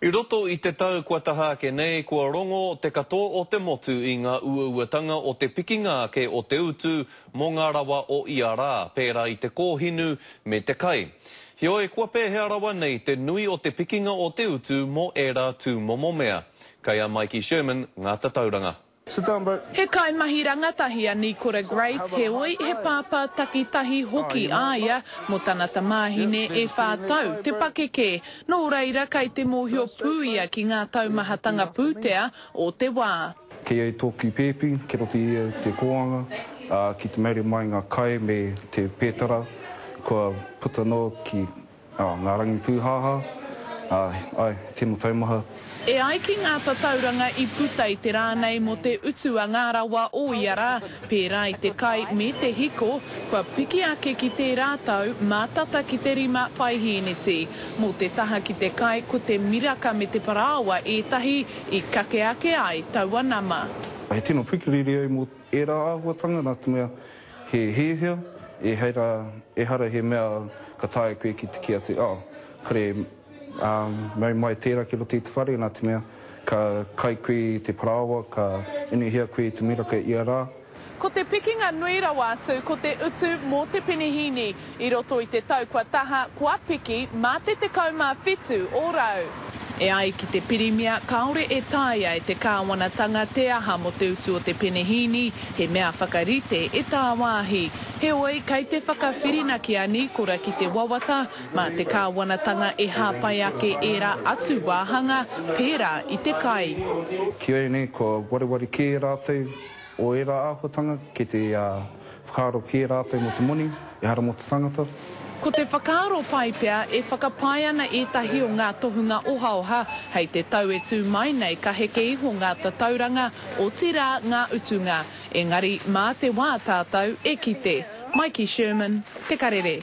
I roto i te tau kua taha ake nei, kua rongo te katoa o te motu i ngā uauatanga o te pikinga ake o te utu mō ngā rawa o ia rā, pērā i te kōhinu me te kai. Heoi, kua pēhea rawa nei te nui o te pikinga o te utu mō ērā tūmomo mea? Kei a Maiki Sherman ngā tatauranga. Sit down bro. He kaimahi rangatahi a Nikora Grace heoi he pāpā takitahi hoki a ia mō tana tamāhine e whā tau te pakeke. Nō reira kei te mōhio pū ia ki ngā taumahatanga pūtea o te wā. Kei au tōku pēpi, kia roto i au te kōanga, ā, ki te maire mai ngā kai me te pētara kua puta noa ki. Oh, ngā rangi tūhāhā, āe, āe, tino taumaha. E ai ki ngā tatauranga i puta i te rā nei mō te utu a ngā rawa o ia rā, pērā i te kai me te hiko, kua piki ake ki tērā tau mā tata ki te rima paihēneti. Mō te taha ki te kai ko te miraka me te parāoa ētahi i kake ake ai taua nama. He tino pikiriri au mō ērā āhuatanga nā te mea, He hiahia, ehara, ehara he mea ka taea koe ki te kī atu, oh, kore, ā, mau mai tērā ki roto i te whare, nā te mea, ka kai koe i te parāoa, ka inuhia koe i te miraka ia rā. Ko te pikinga nui rawa atu ko te utu mō te penehīni. I roto i te tau kua taha, kua piki mā te 17 ōrau. E ai ki te Pirimia, kāore e taea e te kāwanatanga te aha mō te utu o te penehīni, he mea whakarite e tāwāhi. Heoi, kei te whakawhirinaki a Nīkora ki te wawata, mā te kāwanatanga e hāpai ake ērā atu wāhanga, pērā i te kai. Ki ēnei, kua wareware kē rātou o ērā āhuatanga ki te. Whakaaro kē rātou mō te moni, ehara mō te tangata. Ko te whakaaro pai pea e whakapae ana ētahi o ngā tohunga ohaoha hei te tau e tū mai nei ka heke iho ngā tatauranga, otirā ngā utunga. Engari mā te wā tātou e kite. Maiki Sherman, Te Karere.